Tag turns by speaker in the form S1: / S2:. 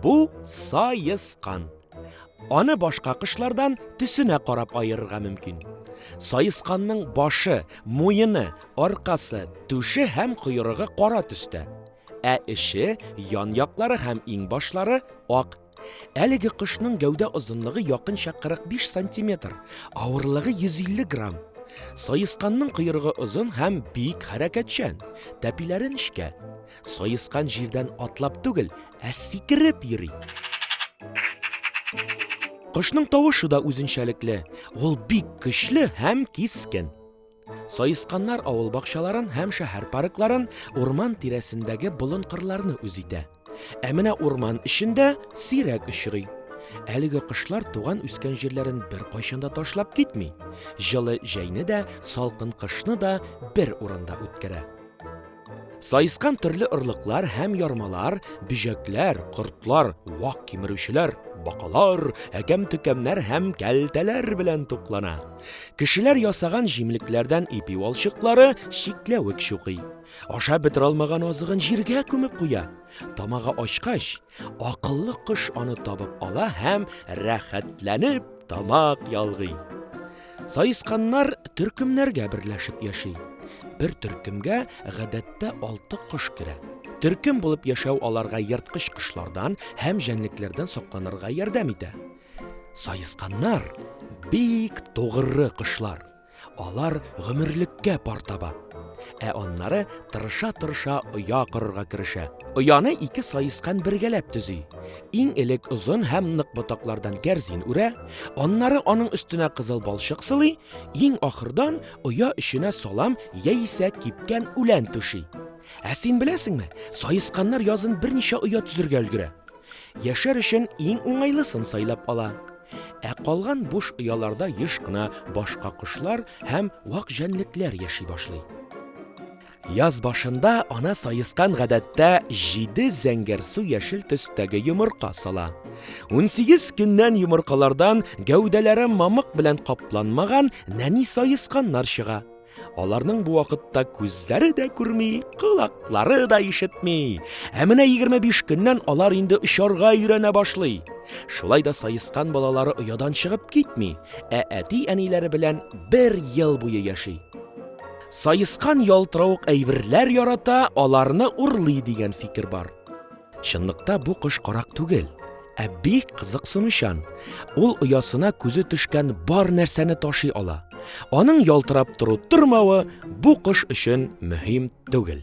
S1: Бу саескан. Аны башка кышлардан төсенә карап аерырга мөмкин. Саесканның башы, муены, аркасы, түше һәм койрыгы кара төстә. Ә эше, ян яклары һәм иң башлары ак Әлеге кошның гәүдә озынлыгы якынча 45 сантиметр, авырлыгы 150 грамм. Саесканның койрыгы озын һәм бик хәрәкәтчән. Тәпиләре нечкә. Саескан җирдән атлап түгел, ә сикереп йөри. Кошның тавышы да үзенчәлекле. Ул бик көчле һәм кискен. Саесканнар авыл бакчаларын һәм шәһәр паркларын, урман тирәсендәге болын-кырларны үз итә. Ә менә урман эчендә сирәк очрый. Әлеге кошлар туган үскән җирләрен беркайчан да ташлап китми. Җылы җәйне дә, салкын кышны да бер урында үткәрә. Саескан төрле орлыклар һәм ярмалар, бөҗәкләр, кортлар, вак кимерүчеләр, бакалар, әкәм-төкәмнәр һәм кәлтәләр белән туклана. Кешеләр ясаган җимлекләрдән ипи валчыклары чикләвек чукый. Ашап бетерә алмаган азыгын җиргә күмеп куя. Тамагы ачкач, Акыллы кош аны табып ала һәм рәхәтләнеп тамак ялгый. Саесканнар төркемнәргә берләшеп яши. Бер төркемгә гадәттә алты кош керә. Төркем булып яшәү аларга ерткыч кошлардан һәм җәнлекләрдән сакланырга ярдәм итә. Саесканнар бик тугры кошлар. Алар гомерлеккә пар таба. Ә аннары тырыша-тырыша оя корырга керешә. Ояны ике саескан бергәләп төзи. Иң элек озын һәм нык ботаклардан кәрзин үрә, аннары аның өстенә кызыл балчык сылый, иң ахырдан оя эченә салам яисә кипкән үлән түши. Ә син беләсеңме, саесканнар язын берничә оя төзергә өлгерә. Яшәр өчен иң уңайлысын сайлап ала. Ә калган буш ояларда еш кына башка кошлар һәм вак җәнлекләр яши башлый. Яз башында ана саескан гадәттә җиде зәңгәрсу яшел төстәге йомырка сала. Унсигез көннән йомыркалардан гәүдәләре мамык белән капланмаган нәни саесканнар чыга. Аларның бу вакытта күзләре дә күрми, колаклары да ишетми. Ә менә 25 көннән алар инде очарга өйрәнә башлый. Шулай да саескан балалары оядан чыгып китми, ә әти-әниләре белән бер ел буе яши. Саескан ялтыравык әйберләр ярата, аларны урлый дигән фикер бар. Чынлыкта бу кош карак түгел, ә бик кызыксынучан. Ул оясына күзе төшкән бар нәрсәне ташый ала. Аның ялтырап тору тормавы бу кош өчен мөһим түгел.